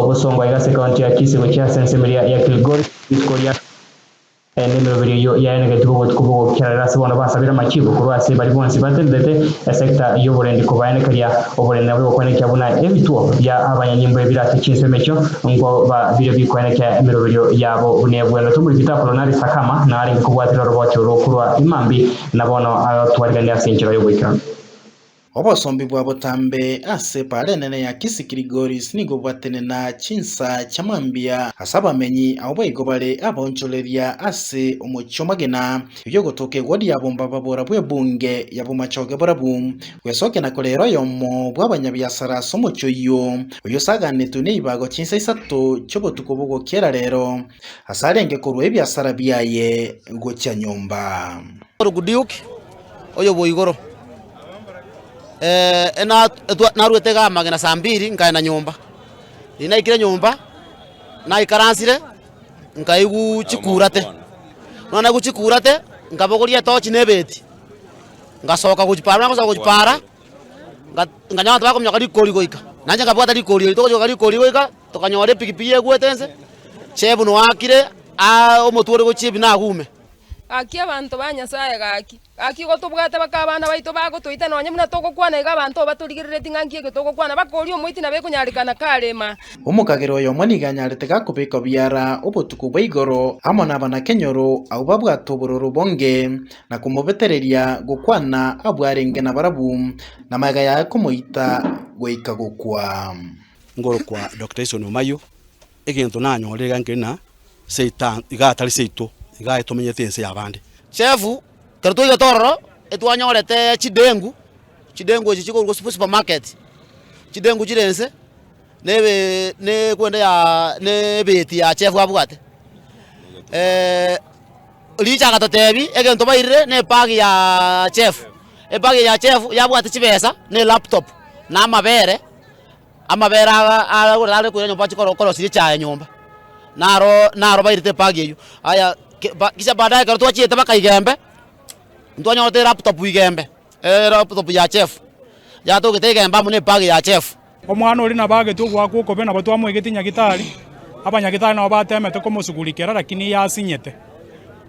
Ogosongwa aiga ase ekaunti ya Kisii gochia ase ensemo eria ya Kilgoris rituko ria kabere, naende emeroberi eyio yaenegetigwe obotuko bw'ogokera rero ase bono basabire amachibo korwa ase baria bonsi batenderete esecta y'oborendi kobaenekeria oborendi nabo egokwenekia buna ebituo bia abanyanyimbo ebire ase chinsemo echio nko ba biria bikwenekia emeroberio yabo buna ebwenerete omoripita akolonari Sakama na arenge kobwatera oroboche orwo korwa Imambi na bono agotwarigania ase enchera y'oboikeranu. Obosombi bwa botambe ase epaara enene ya Kisi Kilgoris nigo bwatenena chinsa chia mambia ase abamenyi ao baigo bare abaonchoreria ase omochie omogina, erio ogotoka egodi ya bomba babora bw'ebunge ya bomachoge borabu, gwesokia na korera oyomo bw'abanyabiasara ase omochie oyio, oyio osaganetwe neibago chinsa isato chi'obotuko bw'ogokiera rero, ase arenge korua ebiasara biaye gochia nyomba. Orokudiuki oyobwo igoro. Eh, na- etwa- naruete iga amagena saa mbiri nkaenda nyomba. Riria naikire nyomba, naikaransire nkaigu chikurate. Buna naigu chikurate, nkabogoria etochi na ebeti, ngasoka gochia para. Buna nagosoka gochia para, nga- nkanyora abanto bakominyoka rikori goika. Nainche nkabwata rikori eri. Togochoka rikori goika, tokanyora epikipiki yegwete inse, chebunu akire, aa, omotwe ore gochia ebina agume. Gaki abanto ba Nyasae, gaki, gaki igo tobwate baka abana baito bagotoita, nonya buna togokwana iga abanto batorigereretie ng'a nki egetogokwana, bakooria omoiti na bekonyarekana karema. Omokagera oyomo nigo anyarete gakobekwa biara obotuko bwa igoro amo nabanakenyoro abwo babwate obororo bonge, na komobetereria gokwana abwo arenge nabarabwo, na magega yaye komoita goika gokwa. Ngorokwa Doctor Ison Omayo, Egento nanyorire iga nkeri na Seitan, iga atari seito, iga aye tomenyete ense y'abande. Chef, Ekero twaigete ororo, etwanyorete chidengu, chidengu echi chikorwa ase supermarket, chidengu chire ense na ebe na ekwende ya na ebeti ya chef abwate. Richa agatotebi egento bairire na ebag ya chef, ebag eye ya chef yabwate chibesa na elaptop na amabere. Amabera aa aragorete are koira nyomba bachie korosia echaye nyomba, naro naro bairete ebag eywo. Aya kisha baadaye ekero twachiete mpaka igembe, ntwanyorete elaptop igembe, elaptop ya Jeff, yatogete igembe amo nebag ya Jeff. Omwana oria nabo agetwe ogoakwa okobe, nabo twamoegetie Nyagitari, abanyagitari nabo bateemete komosugurikera, lakini iye asinyete.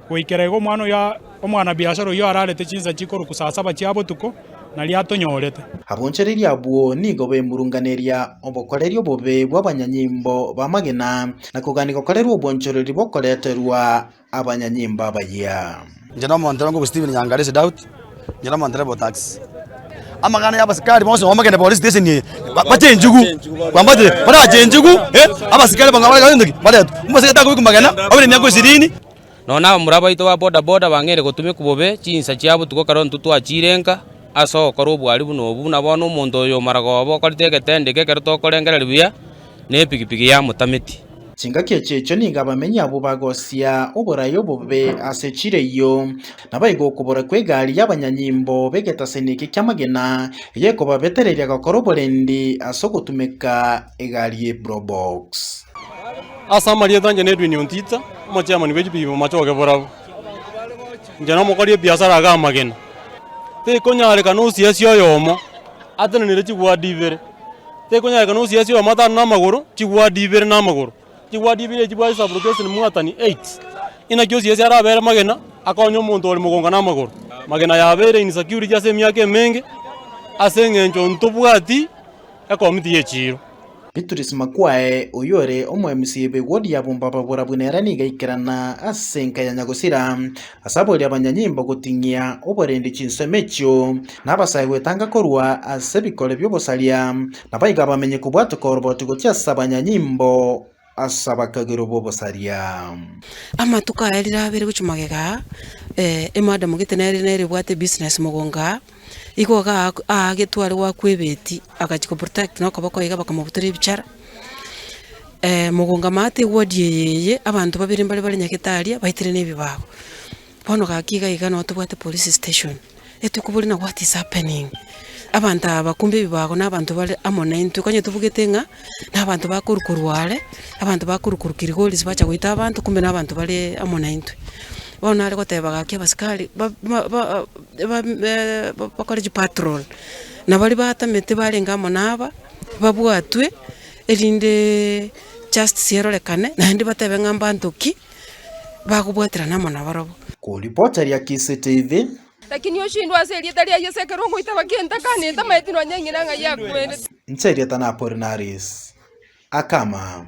Goikera igo omwana oyo, omwana-biashara oyio ararete chinsa chikoruku saa saba chia botuko, nario atonyorete. Abonchoreria abwo nigo baimurunganeria obokoreri obobe bw'abanyanyimbo b'amagena, na kogania gokorerwa obonchoreri bokoreterwa abanyanyimbo abayia. Inche nomonto ore ngokwe Stephen Nyangalisi Daudi. Amang'ana y'abasikari bonsi bamanyete bakagenda police station eye bache enchugu bambache barache enchugu abasikari baretwe omosacha takobekwa magena abe ne miaka ishirini. Nonya abamura baito ba bodaboda bang'eire gotumekwa bobe chinsa chia botuko ekero intwe twachirenga ase ogokora obwari buna obo, buna bono omonto oyo omaragoba okorete egetendeke ekero tokorengereria buya, nepigipigi ya motameti. Chingaki echi echo nigo abamenyi abwo bagosia oboraai obobe ase chireyio, naboigo okobora kw'egari y'abanyanyimbo b'egetaseni eke ki'amagena eyio ekobabetereria gokora oborendi ase ogotumeka egari ye probox. Ase amarieta inche n'Edwin Ontita, omochairman bwe chipigipigi momachoke borabwo. Inche nomokori ebiasara ake amagena. Tekonyarekana osiasia oyomo atenenere chibwadi ibere. tekonyarekana osiasie oyomo atano namagoro, chibwadi ibere namagoro, chibwadi ibere echi bwachia kosaboorokia gose nimwatani eight. Inaki osiasie arabere magena akonye omonto ore mogonga namagoro. Magena yabeire insecurity ase emiaka emenge ase eng'encho ntobwati ekomiti y'echiiro. Beatrice Makwae, oyore omoemisi bwe wodi ya Bombaba Borabu nere nigo aikerana ase enka ya Nyagosira ase abori abanyanyimbo goting'ia oborende chinsemo echio. Nabasae gwetanga korwa ase ebikore bi'obosaria, na baigo abamenye kobwatwa koroboti gochia ase abanyanyimbo ase abakagero b'obosaria. Amatuko aya rire abere gochia magega aa, eh, emadam gete nere nere ebwate ebusiness mogongo aa, igo iga aa aagetwe are goakwa ebeti, agachia koprotect na okoboko iga bakamobutora ebichara, eh, mogongo amaate eward eye eye, abanto babere mbare bare nyagetari aa, baitirane ebibago. Bono gaki iga iga no tobwate police station etwe kobori na what is happening? Abanto aba bakumbe ebibago na abanto bare amo na intwe konye tobugete ng'a na abanto bakorwa korwa are, abanto bakorwa korwa Kilgoris bacha goita abanto kumbe na abanto bare amo na intwe. Bono nare goteba gaki abasikari ba- ba- ba- ba- be- bakore chipatrol na baria batamete barenge amo na aba babwatwe erinde justice erorekane naende batebe ng'a mbanto ki. bagobwaterana amo nabarabwo. Koribocharia kisete ebe. Lakini oshindwe ase erieta ria Yesu ekero ogoitaba genta kane etamaeti nonya eng'ina ng'ai akwerete. Inche erieta na Apolinaris. Akama.